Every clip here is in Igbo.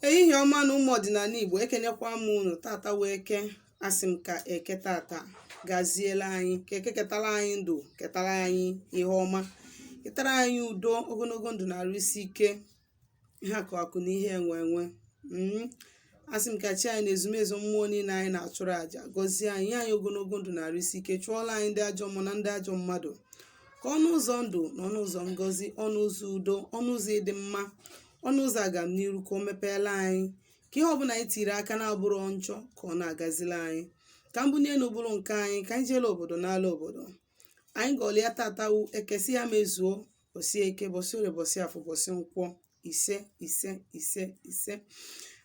ehihie ọma nụ ụmụ ọdịnala igbo ekenekwa m unu tata wụ eke asị m ka eke tata gaziela anyị ka eke ketara anyị ndụ ketara anyị ihe ọma ketara anyị udo ogologo ndụ na arụ isi ike ihe akụ akụ na ihe enwe enwe mm. asị m ka chi anyị na ezumezu mmụọ niile anyị na-achụrụ àjà gọzie anyị nye anyị ogologo ndụ na arụ isi ike chụọla anyị ndị ajọ mmụọ na ndị ajọ mmadụ ka ọnụ ụzọ ndụ na ọnụ ụzọ ngọzi ọnụ ụzọ udo ọnụ ụzọ ịdị mma ọnụ ụzọ agamniru ka o mepeela anyị ka ihe ọbụla anyị tiri aka na-abụrọ njọ ka ọ na-agazila anyị ka mbuli elu bụrụ nke anyị ka anyị jeela obodo naala obodo anyị gọọla ya tata wụ eke sị ya mezuo bọsị eke bọsị orie bọsị afọ bọsị nkwọ ise ise ise ise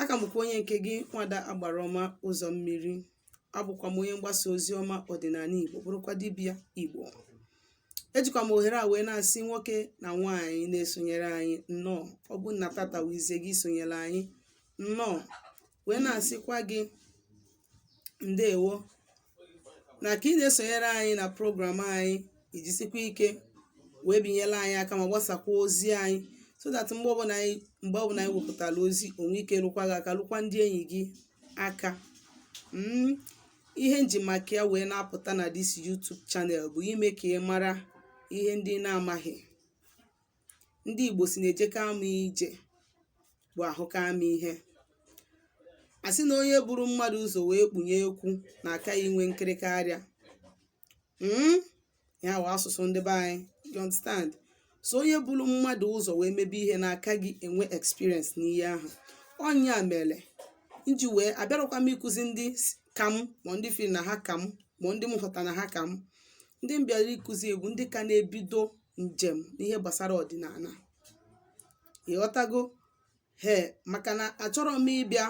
aka m bụkwa onye nke gị nwada agbara ọma ụzọ mmiri abụkwa m onye mgbasa ozi ọma ọdịnala Igbo bụrụkwa dibịa Igbo ejikwa m ohere a wee na-asị nwoke na nwaanyị na-esonyere anyị nnọọ ọ bụ na tata wụ izizi gị isonyere anyị nnọọ wee na-asịkwa gị ndewo na ka ị na-esonyere anyị na program anyị ijisikwa ike wee binyere anyị aka ma gbasakwa ozi anyị so that mgbe ọbụla anyị mgbe ọbụla anyị wepụtara ozi o nwee ike lukwa gị aka lukwa ndị enyi gị aka mm, ihe nji maka ya wee na-apụta na this YouTube channel bụ ime ka ị mara ihe ndị ị na-amaghị ndị Igbo sị na ejeka ama ije bụ ahụka ama ihe a sị na onye buru mmadụ ụzọ wee kpunye ekwu na-aka ya enwe nkịrịka arịa mm? ya wụ asụsụ ndị be anyị you understand so onye buru mmadụ ụzọ wee mebe ihe na-aka gị enwe experience n'ihe ahụ ọ nya mere nji wee abịarọkwa m ịkụzi ndị s- ka m ma ndị firi na ha ka m ma ndị m hụta na ha ka m ndị m bịara ịkụzi wụ ndị ka na-ebido njem n'ihe gbasara ọdịnala ị ghọtago he maka na achọrọ m ịbịa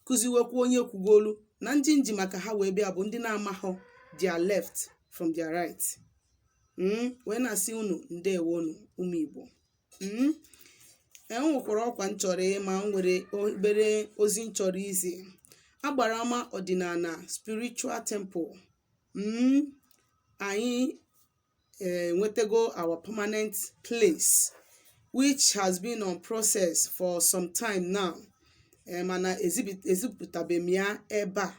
kụziwekwu onye kwugolu na ndị nji maka ha wee bịa bụ ndị na-amahụ their left from their right mm? wee na-asị unu ndewonu ụmụ igbo mm? e nwekwara ọkwa m chọrọ ịma m nwere obere ozi m chọrọ izi agbara ọma ọdịnala spiritual temple mm? anyị eh, enwetego our permanent place which has been on process for some time now eh, mana ezibi- ezipụtabeghị m ya ebe a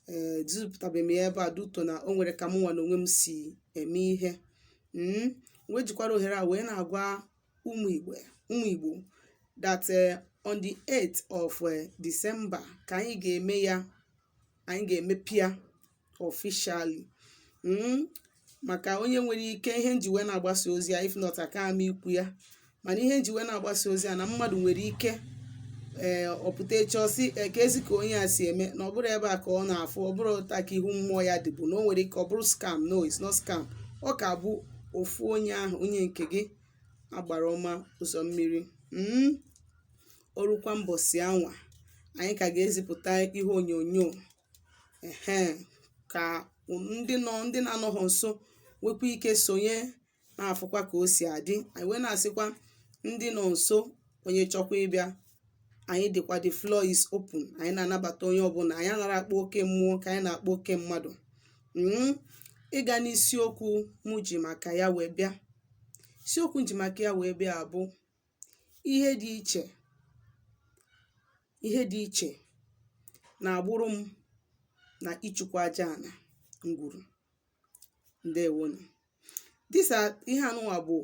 eh, ezipụtabeghị m ya ebe a due to na o nwere ka mụnwa na onwe m si eme ihe Mm, wee jikwara ohere a wee na-agwa ụmụ igbo ụmụ igbo that eh, on the 8th of eh, December ka anyị ga-eme ya anyị ga-emepe ya officially mm, maka onye nwere ike ihe nji wee na-agbasa ozi ya if not aka ama ikwu ya mana ihe nji wee na-agbasa ozi ya na mmadụ nwere ike ee eh, ọ pụta echi ọ sị eh, keezi ka onye a si eme na ọ bụrọ ebe a ka ọ na-afụ ọ bụrọ otu a ka ihu mmụọ ya dịbu na o nwere ike ọ bụrụ scam no it's not scam ọ ka bụ ofu onye ahụ onye nke gị agbara ọma ụzọ mmiri mm. o rukwa mbọsị anwa anyị ka ga-ezipụta ihe onyonyo ehe ka ndị nọ ndị na-anọghọ nso nwekwa ike sonye na-afụkwa ka o si adị anyị wee na-asịkwa ndị nọ nso onye chọkwa ịbịa anyị dịkwa the floor is open anyị na-anabata onye ọbụla anyị anara akpa oke mmụọ ka anyị na-akpa oke mmadụ mm ịga n'isiokwu mụ ji maka ya wee bịa isiokwu nji maka ya wee bịa bụ ihe dị iche ihe dị iche na agbụrụ m na ịchụkwa aja ana ngwuru ndewo nụ this ihe anụwa bụ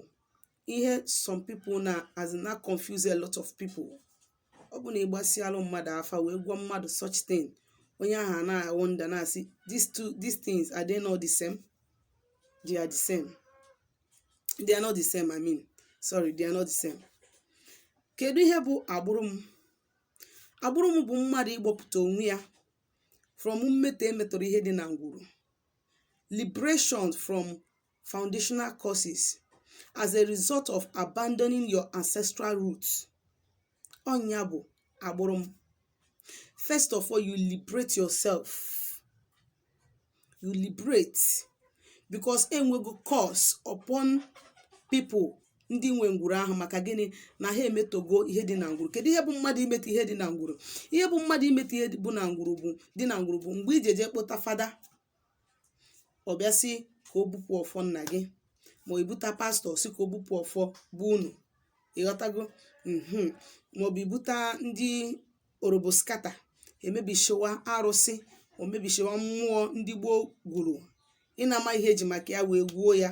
ihe some people na-azị na-confuse a lot of people ọ bụrụ na ị gbasịalụ mmadụ afa wee gwa mmadụ such thing onye ahụ ana-awonder na-asị these two these things are they not the same they are the same they are not the same i mean sorry they are not the same kedu ihe bụ agbụrụ m agbụrụ m bụ mmadụ ịgbọpụta onwe ya from mmetọ e metọrọ ihe dị na ngwuru liberation from foundational curses as a result of abandoning your ancestral roots ọ nya bụ agbụrụ m first of all you liberate yourself you liberate because e nwego curse upon people ndị nwe ngwuru ahụ maka gịnị na ha emetọgo ihe dị na ngwuru kedu ihe bụ mmadụ imetọ ihe dị na ngwuru ihe bụ mmadụ imetọ ihe bụ na ngwuru bụ dị na ngwuru bụ mgbe i ji eje kpọta fada ọ bịa sị ka o bupụ ọfọ nna gị maọbụ i buta pastọ sị ka o bupụ ọfọ be unu ị ghọtago mhm maọbụ i buta ndị oroboskata e mebishiwa arụsị o mebishiwa mmụọ ndị gboo gwuru ị na-ama ihe e ji maka ya wee gwuo ya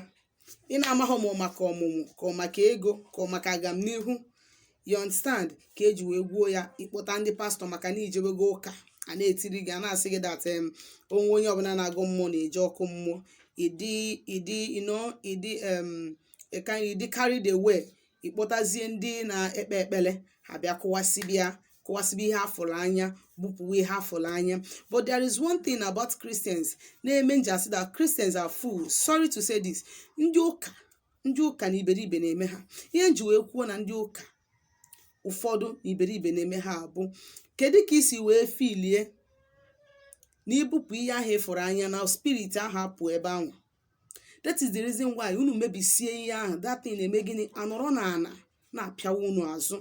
ị na-amaghọ ma ọ maka ọmụmụ ka ọ maka ego ka ọ maka agamnihu you understand ka e ji wee gwuo ya ị kpọta ndị pastọ maka na i jebego ụka a na-etiri gị a na-asị gị that em onwe onye ọbụla na-agọ mmụọ na-eje ọkụ mmụọ ịdị ịdị ino ịdị em ịka ịdị carried away ịkpọtazie ndị na-ekpe ekpele ha bịa kụwasịbịa kụwasịbụ ihe afụrụ anya bupụwa ihe afụrụ anya but there is one thing about Christians na-eme nji asị that Christians are fools sorry to say this ndị ụka ndị ụka na iberibe na-eme ha ihe nji wee kwuo na ndị ụka ụfọdụ na iberibe na-eme ha abụ kedu ka isi wee filie na ibupụ ihe ahụ ịfụrụ anya na spirit ahụ apụọ ebe ahụ that is the reason why unu mebisie ihe ahụ that thing na-eme gịnị anọrọ na ana na-apịawa unu azụ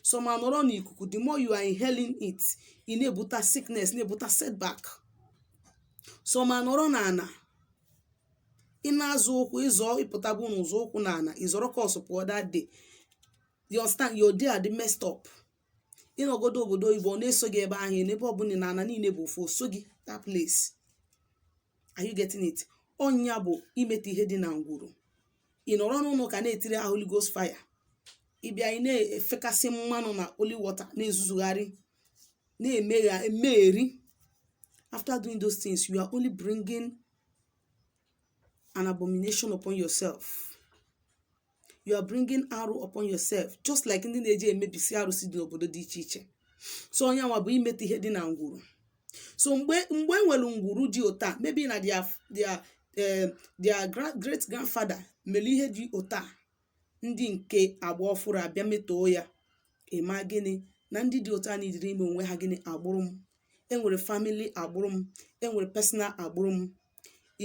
some anọrọ n'ikuku the more you are inhaling it ị na-ebuta sickness na-ebuta setback some anọrọ na ana ị na-azọ ụkwụ ịzọ ịpụtabu n'ụzọ ụkwụ na ana ịzọrọ curse pụọ that day you understand your day adị messed up ịnọgodo obodo oyibo ọ na-eso gị ebe ahụ n'ebe ọbụla na ana niile bụ ofu o soo gị that place are you getting it ọ nya bụ imeta ihe dị na ngwuru ị nọrọ n'ụnọ ụka na-etiri ha Holy Ghost fire ịbịa ị na-efekasị mmanụ na holy water na-ezuzugharị na-emegha emegheri after doing those things you are only bringing an abomination upon yourself you are bringing arụ upon yourself just like ndị na-eji emebisi arụsị dị n'obodo dị iche iche so ọ nya nwa bụ imeta ihe dị na ngwuru so mgbe mgbe e nwere ngwuru dị ụta maybe na their their eh, their gra- great grandfather mere ihe dị ụta ndị nke agba ọfụrụ abịa metọọ ya ịma gịnị na ndị dị ụta needịrị ime onwe ha gịnị agbụrụ m enwere family agbụrụ m enwere personal agbụrụ m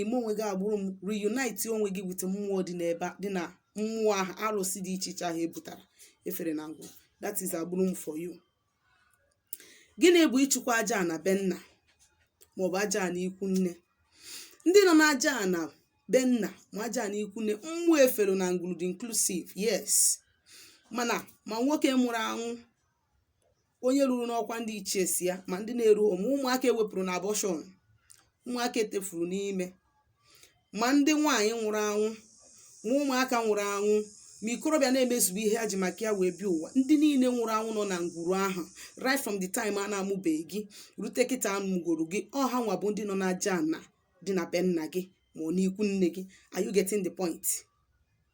ime onwe gị agbụrụ m reunite onwe gị with mmụọ dị n'ebe a- dị na mmụọ ahụ arụsị dị iche iche ahụ e butara e fere na ngwuru that is agbụrụ m for you gịnị bụ ịchụkwa aja ana be nna maọbụ aja ana ikwu nne ndị nọ n'aja ana be nna ma aja ana ikwu nne mmụọ e fere na ngwuru dị inclusive yes mana ma nwoke nwụrụ anwụ onye ruru n'ọkwa ndị ichie si ya ma ndị na-eru ma ụmụaka ewepụrụ na abortion ụmụaka etefuru n'ime ma ndị nwaanyị nwụrụ anwụ ma ụmụaka nwụrụ anwụ ma ikorobịa na-emezubu ihe ha ji maka ya wee bịa ụwa ndị niile nwụrụ anwụ nọ na ngwuru ahụ right from the time a na-amụbeghị gị rute kịta amụgoro gị ọ ha nwa bụ ndị nọ n'aja ana dị na be nna gị ma ọ n'ikwu nne gị are you getting the point?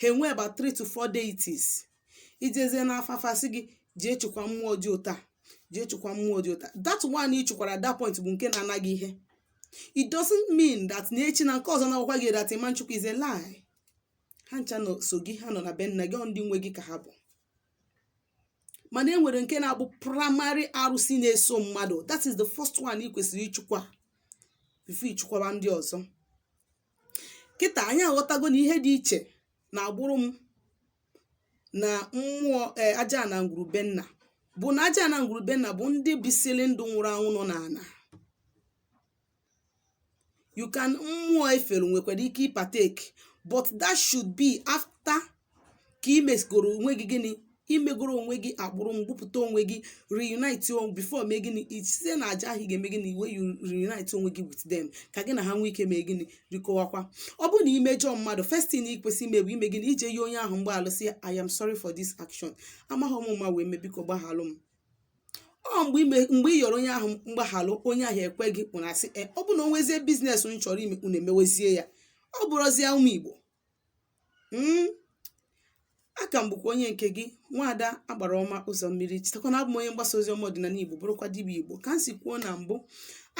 ha enwe about three to four deities ijezie n'afa afa sị gị jee chụkwa mmụọ dị ụta jee chụkwa mmụọ dị ụta that one ị chụkwara at that point bụ nke na-ana gị ihe it doesn't mean that na echi na nke ọzọ na-agwakwa gị that ịma nchụkwa is a lie ha ncha nọ so gị ha nọ na be nna gị ọ ndị nwe gị ka ha bụ mana e nwere nke na-abụ primary arụsị na-eso mmadụ that is the first one ị kwesịrị ịchụkwa before ịchụkwaba ndị ọzọ kịtà ànyị àghọtago nà ihe dị ichè nà àgbụrụ m nà mmụọ e aja nà ǹgwùrù be nnà bụ̀ nà aja nà ǹgwùrù be nnà bụ̀ ndị bisiri ndụ̇ nwụrụ anwụ nọ n'ànà you can mmụọ efèrè nwèkwàrà ike ịpartake but that should be after ka i megoro onwe gị gịnị i megoro onwe gị agbụrụ m gbupụta onwe gị reunite onwe before mee gịnị i- site na aja ahụ ị ga-eme gịnị where you reunite onwe gị with them ka gị na ha nwee ike mee gịnị rikọwakwa ọ bụrụ na i mejọọ mmadụ first thing ị kwesị ime bụ ime gịnị ije yọọ onye ahụ mgbaghara sị ya i am sorry for this action amaghị m ama wee mee biko gbaghalụ m ọ mgbe ime mgbe ị yọrọ onye ahụ mgbaghalụ onye ahụ ekwe gị kwụrụ asị e ọ bụ na o nwezie biznes unu chọrọ ime unu emewezie ya ọ bụrụzie ụmụ igbo mm a ka m bụkwa onye nke gị nwaada agbara ọma ụzọ mmiri chetakwa na abụ m onye mgbasa ozi ọma ọdịnala igbo bụrụkwa dibịa igbo ka m si kwuo na mbụ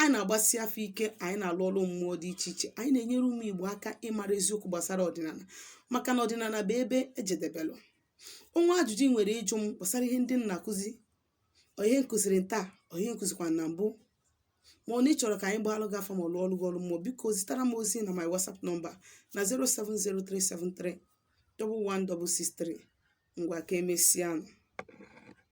anyị na-agbasi afa ike anyị na-alụ ọrụ mmụọ dị iche iche anyị na-enyere ụmụ igbo aka ịmara eziokwu gbasara ọdịnala maka na ọdịnala bụ ebe e jedebelụ o nwee ajụjụ ị nwere ịjụ m gbasara ihe ndị m na-akụzi ọ ihe m kụziri taa ọ ihe m kụzikwa na mbụ ma ọ na ị chọrọ ka anyị gbaalụ gị afa ma ọ lụọlụ gị ọlụ mmụọ biko zitara m ozi na my whatsapp nọmba na 07037311663 ngwa ka emesianụ